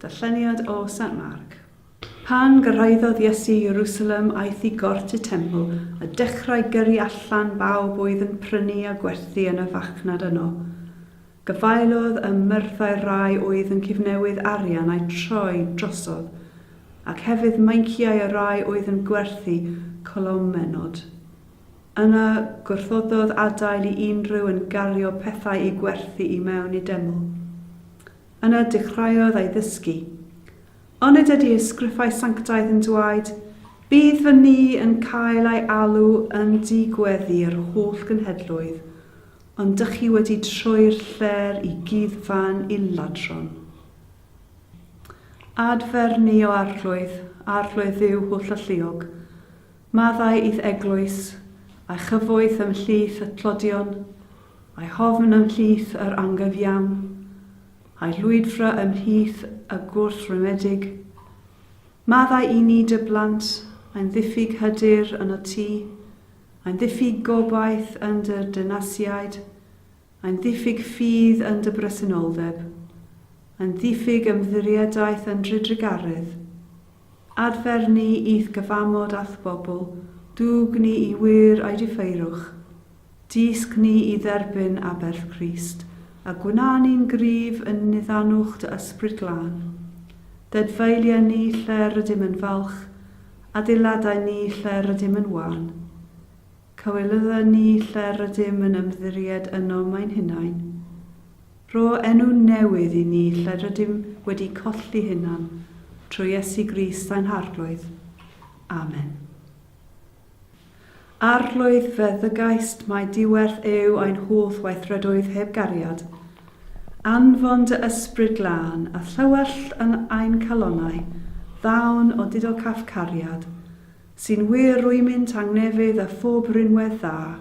Darlleniad o Sant Marc. Pan gyrhaeddodd Iesu Ierusalem aeth i gort y teml a dechrau gyrru allan bawb oedd yn prynu a gwerthu yn y farchnad yno. Gafaelodd ym myrddau'r rai oedd yn cyfnewydd arian a'u troi drosodd, ac hefyd meinciau y rai oedd yn gwerthu colomenod. Yna gwrthododd adael i unrhyw un gario pethau i gwerthu i mewn i deml. Yna dechreuodd ei ddysgu. Onid ydy ysgrifau sanctaidd yn dwaed, Bydd fy ni yn cael ei alw yn du gweddi yr holl genhedloedd, ond dych chi wedi troi'r lle'r i gyd fan i ladron. Adfer ni o arglwydd, arglwydd Dduw holl alluog. Maddau i'th eglwys, a'i chyfoeth ymhlith y tlodion, a'i hofn ymhlith yr anghyfiawn, a'i rhwydfra ymhlith y gwrthwrymedig. Maddau i ni dy blant, ein ddiffyg hyder yn y tŷ, ein ddiffyg gobaith yn dy dynasiaid, Yn ddiffyg ffydd yn dy bresenoldeb. Yn ddiffyg ymddiriedaeth yn dy drugaredd. Adfer ni i'th gyfamod a'th bobl, dwg ni i wŷr a'i diffeirwch. Dysg ni i dderbyn aberth Crist, a gwna ni'n gryf yn niddanwch dy Ysbryd Glân. Dedfeilia ni lle rydym yn falch, adeiladau ni lle rydym yn wân. Cawelyddyn ni lle rydym yn ymddiried ynom ein hunain. Rho enw newydd i ni lle rydym wedi colli hunan, trwy Iesu Grist ain Harglwydd. Amen. Arglwydd feddygaist, mae diwerth eu ein holl weithredoedd heb gariad. Anfon dy Ysbryd Glân a thywellt yn ein calonau ddawn o didocaf cariad, Sy'n wir rwymyn tangnefydd a phob rhinwedd dda,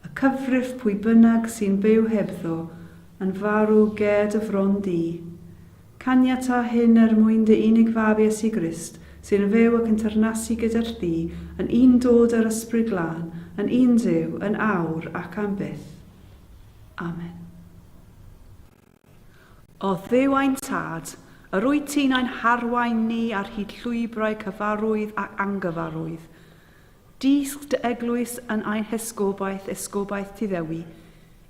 y cyfrif pwy bynnag sy'n byw hebddo yn farw ged y fron du. Caniata hyn er mwyn dy unig fab Iesu Grist sy'n yn fyw ac yn teyrnasu gyda thdi yn un dod â'r Ysbryd Glân, yn un Duw, yn awr ac am byth. Amen. O Dduw ein Tad, yr wyt ti'n ein harwain ni ar hyd llwybrau cyfarwydd ac angyfarwydd. Dysg dy eglwys yn ein hesgobaeth, esgobaeth ti ddewi,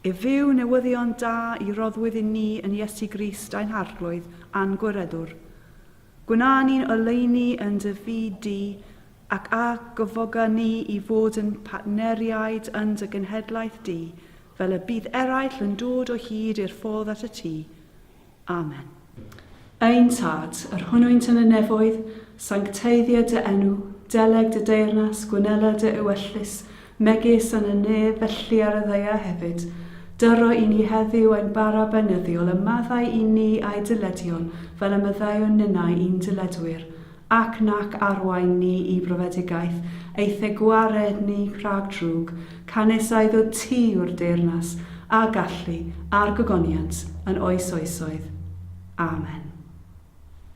i fyw newyddion da i roddwyd i ni yn Iesu Grist ein Harglwydd a'n Gwiredwr. Gwna ni'n oleuni yn dy fyd di, ac a gyfoga ni i fod yn partneriaid yn dy genhedlaeth di, Fel y bydd eraill yn dod o hyd i'r ffordd at y tŷ. Amen. Ein Tad, yr hwnnwynt yn y nefoedd, sancteiddio dy enw, deleg dy deyrnas, gwnela dy ewyllys, megis yn y nef, felly ar y ddaear hefyd. Dyro i ni heddiw ein bara beunyddiol, a maddau i ni a'i dyledion, fel y maddeuwn ninnau i'n dyledwyr. Ac nac arwain ni i brofedigaeth, eithe gwared ni rhag drwg, canys a iddo ti yw'r deyrnas, a gallu, a'r gogoniant, yn oes oesoedd. Amen.